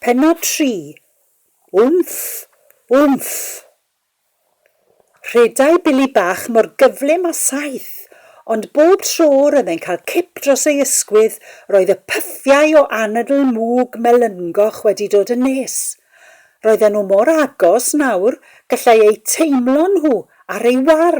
Pennod 3, Wmff! Wmff! Rhedai Billy bach mor gyflym a saeth, ond bob tro roedd e'n cael cip dros ei ysgwydd roedd y pythiau o anadl mwg melyngoch wedi dod yn nes. Roedden nhw mor agos nawr gallai eu teimlo nhw ar ei war!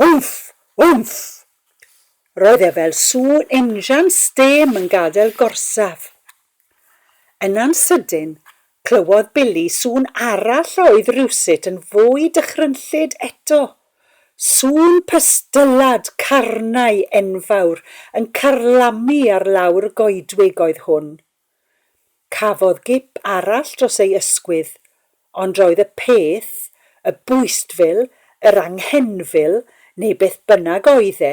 Wmff! Wmff! Roedd e fel sŵn injan stêm yn gadael gorsaf. Yna'n sydyn, clywodd Billy sŵn arall a oedd rywsut yn fwy dychrynllyd eto. Sŵn pystyllad carnau enfawr yn carlamu ar lawr y goedwig oedd hwn. Cafodd gip arall dros ei ysgwydd, ond roedd y peth, y bwystfil, yr anghenfil, neu beth bynnag oedd e,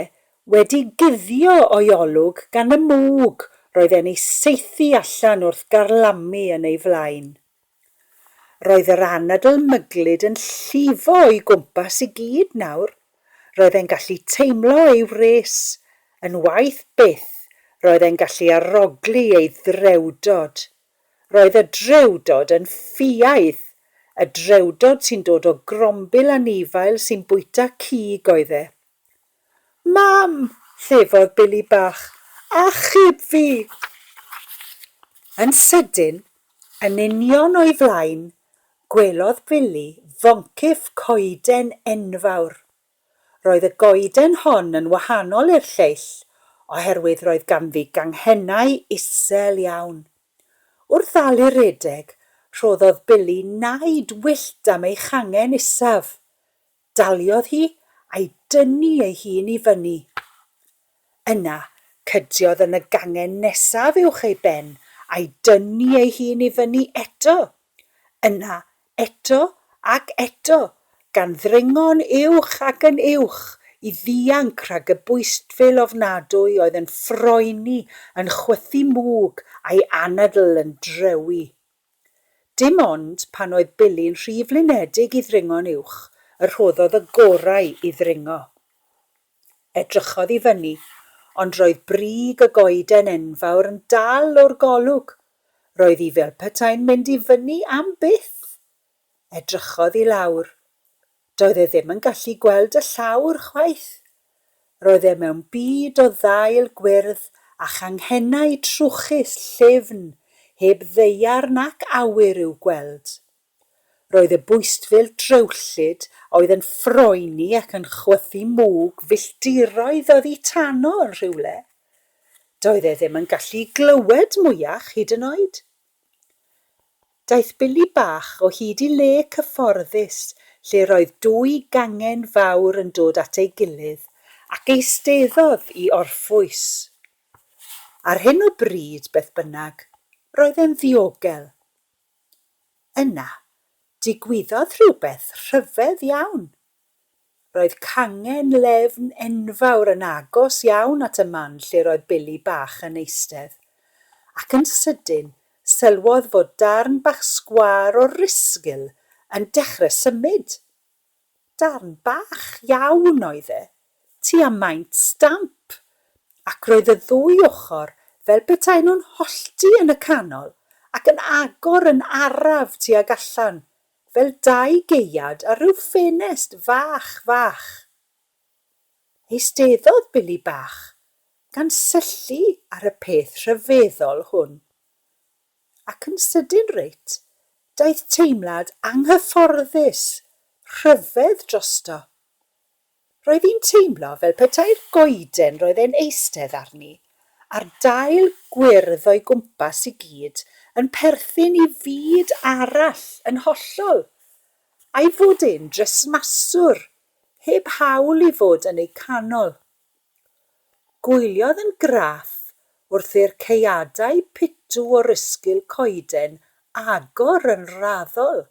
wedi guddio o'i olwg gan y mwg roedd e'n ei saethu allan wrth garlamu yn ei flaen. Roedd yr anadl myglyd yn llifo o'i gwmpas i gyd nawr. Roedd e'n gallu teimlo ei wres. Yn waeth byth, roedd e'n gallu arogli ei ddrewdod. Roedd y drewdod yn ffiaidd. Y drewdod sy'n dod o grombil anifail sy'n bwyta cig oedd e. Mam! llefodd Billy bach. Achub fi! Yn sydyn, yn union o'i flaen, gwelodd Billy foncyff coeden enfawr. Roedd y goeden hon yn wahanol i'r lleill oherwydd roedd ganddi ganghennau isel iawn. Wrth ddal i redeg, rhoddodd Billy naid wyllt am ei changen isaf. Daliodd hi a'i dynnu ei hun i fyny. Yna, cydiodd yn y gangen nesaf uwch ei ben a'i dynnu ei hun i fyny eto. Yna, eto ac eto, gan ddringo'n uwch ac yn uwch i ddianc rhag y bwystfil ofnadwy oedd yn ffroeni, yn chwythu mwg a'i anadl yn drewi. Dim ond pan oedd Billy'n rhy flinedig i ddringo'n uwch y rhoddodd y gorau i ddringo. Edrychodd i fyny, ond roedd brig y goeden enfawr yn dal o'r golwg. Roedd hi fel petai'n mynd i fyny am byth! Edrychodd i lawr. Doedd e ddim yn gallu gweld y llawr chwaith. Roedd e mewn byd o ddail gwyrdd a changhennau trwchus llyfn heb ddaear nac awyr i'w gweld. Roedd y bwystfil drewllyd a oedd yn ffroeni ac yn chwythu mwg filltiroedd oddi tano yn rhywle. Doedd e ddim yn gallu glywed mwyach hyd yn oed. Daeth Billy bach o hyd i le cyfforddus lle roedd dwy gangen fawr yn dod at ei gilydd ac eisteddodd i orffwys. Ar hyn o bryd, beth bynnag, roedd e'n ddiogel. Yna, digwyddodd rhywbeth rhyfedd iawn Roedd cangen lefn enfawr yn agos iawn at y man lle roedd Billy bach yn eistedd, ac yn sydyn sylwodd fod darn bach sgwâr o rysgl yn dechrau symud. Darn bach iawn oedd e, tua maint stamp, ac roedd y ddwy ochr fel petaen nhw'n hollti yn y canol ac yn agor yn araf tuag allan Fel dau gaead ar ryw ffenest fach, fach. Eisteddodd Billy bach gan syllu ar y peth rhyfeddol hwn. Ac yn sydyn reit, daeth teimlad anghyfforddus, rhyfedd drosto. Roedd hi'n teimlo fel petai'r goeden roedd e'n eistedd arni, a'r dail gwyrdd o'i gwmpas i gyd, yn perthyn i fyd arall yn hollol. A'i fod e'n dresmaswr, heb hawl i fod yn eu canol. Gwyliodd yn graff wrth i'r caeadau pitw o'r ysgil coeden agor yn raddol,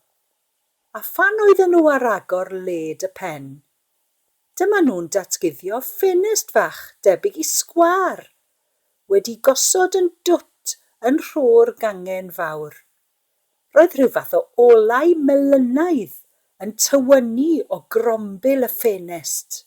A phan oedden nhw ar agor led y pen, dyma nhw'n datguddio ffenest fach debyg i sgwâr, wedi gosod yn dwt yn nhro'r gangen fawr. Roedd rhyw fath o olau melynaidd yn tywynnu o grombil y ffenest.